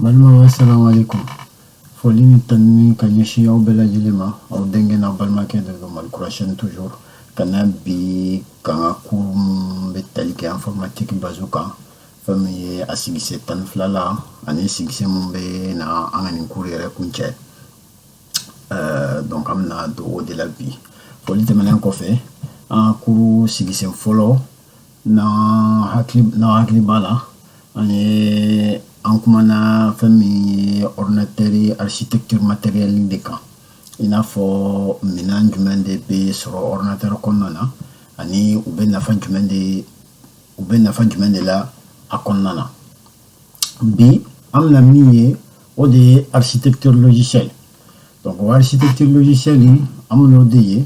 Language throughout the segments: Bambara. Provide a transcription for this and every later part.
Balimaw assalamu alaikum foli ni tanuni ka ɲɛsin aw bɛɛ lajɛlen ma aw denkɛ n'aw balimakɛ de don mali kurasɛni toujours ka na bi ka n ka cours min bɛ tali kɛ informatique base kan fɛn min ye a sigisen tan ni fila la ani sigisen min bɛ na an ka nin cours yɛrɛ kuncɛ euh, donc an bɛna don o de la bi foli tɛmɛnen kɔfɛ an ka cours sigisen fɔlɔ n'aw hakili n'aw hakili b'a la an ye an kumana fɛn min ye ordinatɛri architecture matériel de kan i n'a fɔ minan jumɛn de bɛ sɔrɔ ordinatɛri kɔnɔna na ani u bɛ nafa jumɛn de u bɛ nafa jumɛn de la a kɔnɔna na bi an bɛna min ye o de ye architecture logicielle donc o architecture logicielle in an bɛn'o de ye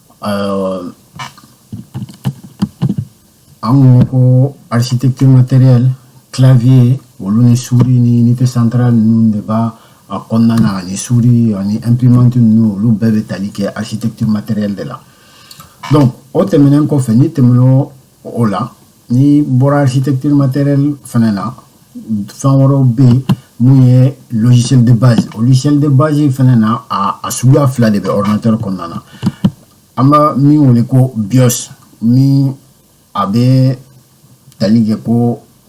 an kun ko architecture matériel clavier olu ni suri ni unité centrale ninnu de b'a a kɔnɔna na ani suri ani imprimante ninnu olu bɛɛ bɛ tali kɛ architecture matériel de la donc o tɛmɛnen kɔfɛ n'i tɛmɛn'o o la n'i bɔra architecture matérielle fana na fɛn wɛrɛw bɛ yen min ye logiciel de base o logiciel de base fana na a a suguya fila de bɛ ordinateur kɔnɔna na an bɛ min wele ko BIOS min a bɛ tali kɛ ko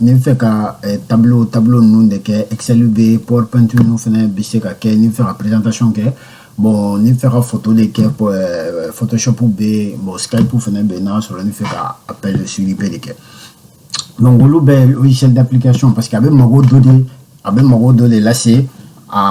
n'i fɛ ka eh, tableau tableau ninnu de kɛ excel bɛ powerpoint ninnu fana bɛ se ka kɛ n'i fɛ ka présentation kɛ bon n'i fɛ ka photo de kɛ eh, photoshop bɛ yen bon skype fana bɛ yen n'a sɔrɔ n'i fɛ ka appel sur IP de kɛ donc olu bɛɛ logiciel d'application parce que a bɛ mago dɔ de a bɛ mago dɔ de lase a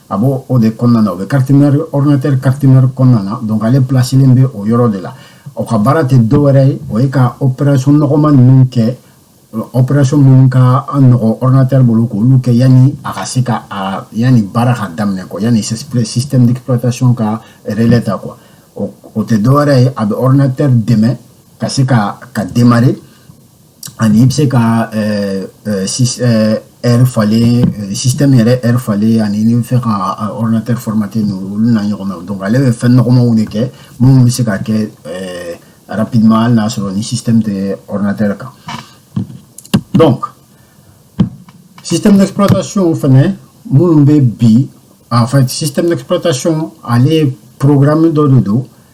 a b'o de kɔnɔna na o bɛ carte mère ɔridinatɛri carte mère kɔnɔna na donc ale pilasilen bɛ o yɔrɔ de la o ka baara tɛ dɔ wɛrɛ ye o ye ka operasɔn nɔgɔma ninnu kɛ operasɔn minnu ka nɔgɔ ɔridinatɛri bolo k'olu kɛ yanni a ka se ka a yanni baara ka daminɛ quoi yanni système d'exploitation ka relais ta quoi o tɛ dɔ wɛrɛ ye a bɛ ɔridinatɛri dɛmɛ ka se ka ka démarrer ani i bɛ se ka heure falen sistɛmi yɛrɛ heure falen ani n'i b'a fɛ ka ordinateur formater ninnu olu n'a ɲɔgɔnna donc ale bɛ fɛn nɔgɔmanw de kɛ minnu bɛ se ka kɛ rapidement hali n'a sɔrɔ ni système tɛ ordinateur kan donc système d'exploitation fɛnɛ minnu bɛ bi en fait système d'exploitation ale programme dɔ de don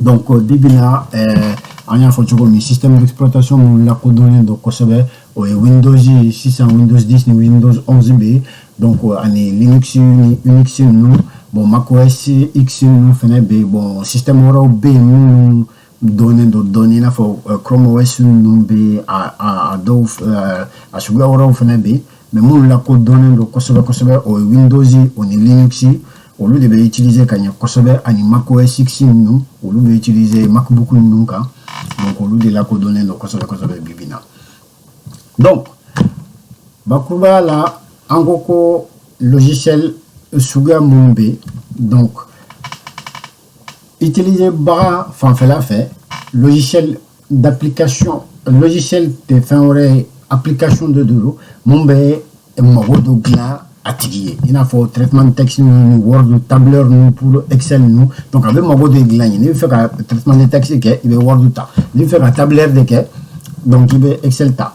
donc bi bi na ɛɛ an y'a fɔ cogo min système d'exploitation minnu lakodɔnnen don kosɛbɛ o ye windows sisan windows 10 ni windows 11 bɛ yen donc ani linux ni unix ninnu bon macOS x ninnu fana bɛ yen bon système wɛrɛw bɛ yen minnu dɔnnen don dɔɔni i n'a fɔ chrome os ninnu bɛ yen a a dɔw a suguya wɛrɛw fana bɛ yen mais minnu lakodɔnnen don kosɛbɛ kosɛbɛ o ye windows o ni linux olu de bɛ utiliser ka ɲɛ kosɛbɛ ani mac os x ninnu olu bɛ utiliser macbook ninnu kan donc olu de lakodɔnnen don kosɛbɛ kosɛbɛ bibi na donc bakurubaya la an ko ko logiciel suguya minnu bɛ donc Utiliser baga fanfɛla fɛ logiciel d'application logiciel tɛ fɛn wɛrɛ ye application de don mun bɛ mago dɔ dilan a tigi ye i n'a fɔ traitement de texte ninnu word tableur ninnu pour excel ninnu donc a bɛ mago de dilan ye n'i bɛ fɛ ka traitement de texte kɛ i bɛ word ta n'i bɛ fɛ ka tableur de kɛ donc i bɛ excel ta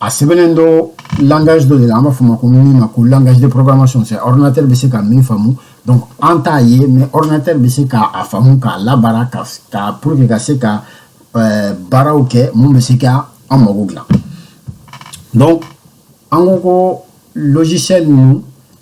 a sɛbɛnnen dɔ langage dɔ de la an b'a fɔ ma ko min ma ko langage de programmation c'est ordinateur bɛ se ka min faamu donc an t'a ye mais ordinateur bɛ se ka a faamu k'a labaara ka ka pour que ka se ka euh, baaraw kɛ mun bɛ se ka an mago dilan donc an ko ko logiciel ninnu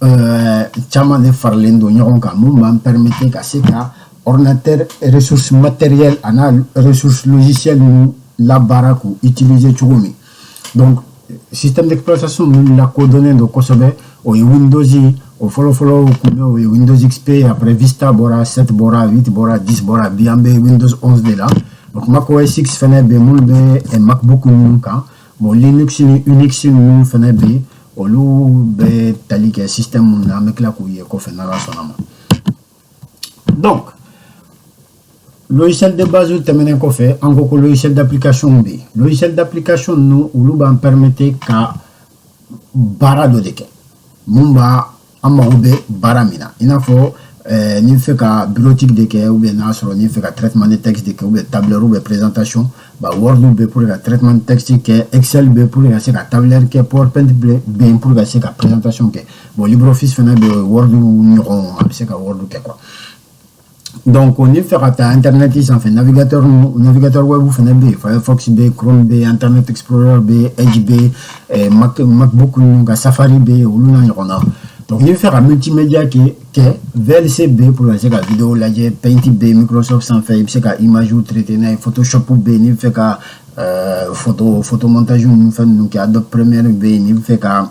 Euh, caman de faralen don ɲɔgɔn kan mun b'an permettre ka se ka ordinateur ressource matérielle an'a ressource logicielle ninnu labaara k'u utiliser cogo min donc système d'exploitation ninnu lakodɔnnen don kosɛbɛ o ye windows ye o fɔlɔfɔlɔ tun bɛ o ye windows xp après vista bɔra 7 bɔra 8 bɔra 10 bɔra bi an bɛ windows 11 de la donc mac os x fɛnɛ bɛ minnu bɛ macbook ninnu kan bon linux ni unix ninnu fana bɛ yen olu bɛ tali kɛ système minnu na an bɛ tila k'u ye kɔfɛ n'ala sɔnna ma donc logiciel de base tɛmɛnen kɔfɛ an ko ko logiciel d'application bɛ yen logiciel d'application ninnu olu b'an permettre ka baara dɔ de kɛ mun b'a an mago bɛ baara min na i n'a fɔ eh, n'i fɛ ka bureautique de kɛ ou bien n'a sɔrɔ n'i fɛ ka traitement de texte de kɛ ou bien tableur ou bien présentation bon word bɛ pour ka traitement de texte kɛ excel bɛ pour ka se ka tableur kɛ powerpoint bɛ yen pour i ka se ka présentation kɛ bon libreoffice fana bɛ word ɲɔgɔn a bɛ se ka word kɛ quoi donc o n'i fɛ ka taa internet sanfɛ navigateur navigateur web fana bɛ yen firefox bɛ yen chrome bɛ yen internet explorer bɛ yen edge bɛ yen eh, mac macbook ninnu ka safari bɛ yen olu n'a ɲɔgɔnna donc n'i bɛ fɛ ka multimedia kɛ kɛ vlc bɛ yen pour ka se ka video lajɛ paint bɛ yen microsoft sanfɛ i bɛ se ka image traiter n'a ye photoshop bɛ yen n'i bɛ fɛ ka euh, photo photo montage ninnu fɛn ninnu kɛ adobe premiere bɛ yen n'i bɛ fɛ ka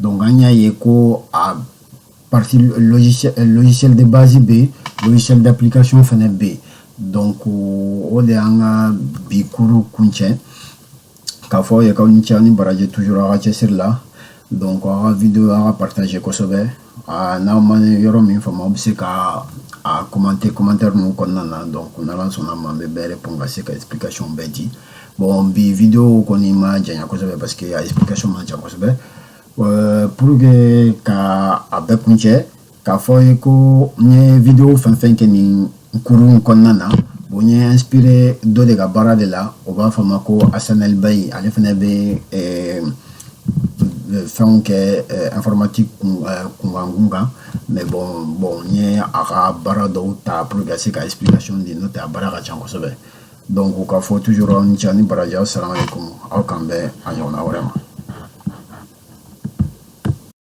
donc an y'a ye ko a partie logiciel, logiciel de base bɛ yen logiciel d'application fana bɛ yen donc o de y'an ka bi cours kuncɛ k'a fɔ aw ye k'aw ni ce aw ni baraji toujours aw ka cɛsiri la donc aw ka video aw k'a partager kosɛbɛ n'aw ma yɔrɔ min faamu aw bɛ se ka a commenter commentaire ninnu kɔnɔna na donc n'ala sɔnna ma n bɛ bɛɛ répondre ka se ka explication bɛɛ di bon bi video kɔni ma janya kosɛbɛ parce que a explication man jan kosɛbɛ euh, pour que ka a bɛɛ kuncɛ k'a fɔ ye ko n ye video fɛn fɛn kɛ nin kurun kɔnɔna na bon n ye inspiré dɔ de ka baara de la o b'a fɔ ma ko asanɛl bayi ale fana bɛ euh, fɛnw kɛ eh, informatique eh, kunkan kunkan mais bon bon n ye a ka baara dɔw ta pour que ka se ka explication di n'o tɛ a baara ka ca kosɛbɛ Donc n k'aw fo toujours aw ni ce aw ni baraji aw salamalekum aw k'an bɛn a ɲɔgɔnna wɛrɛ ma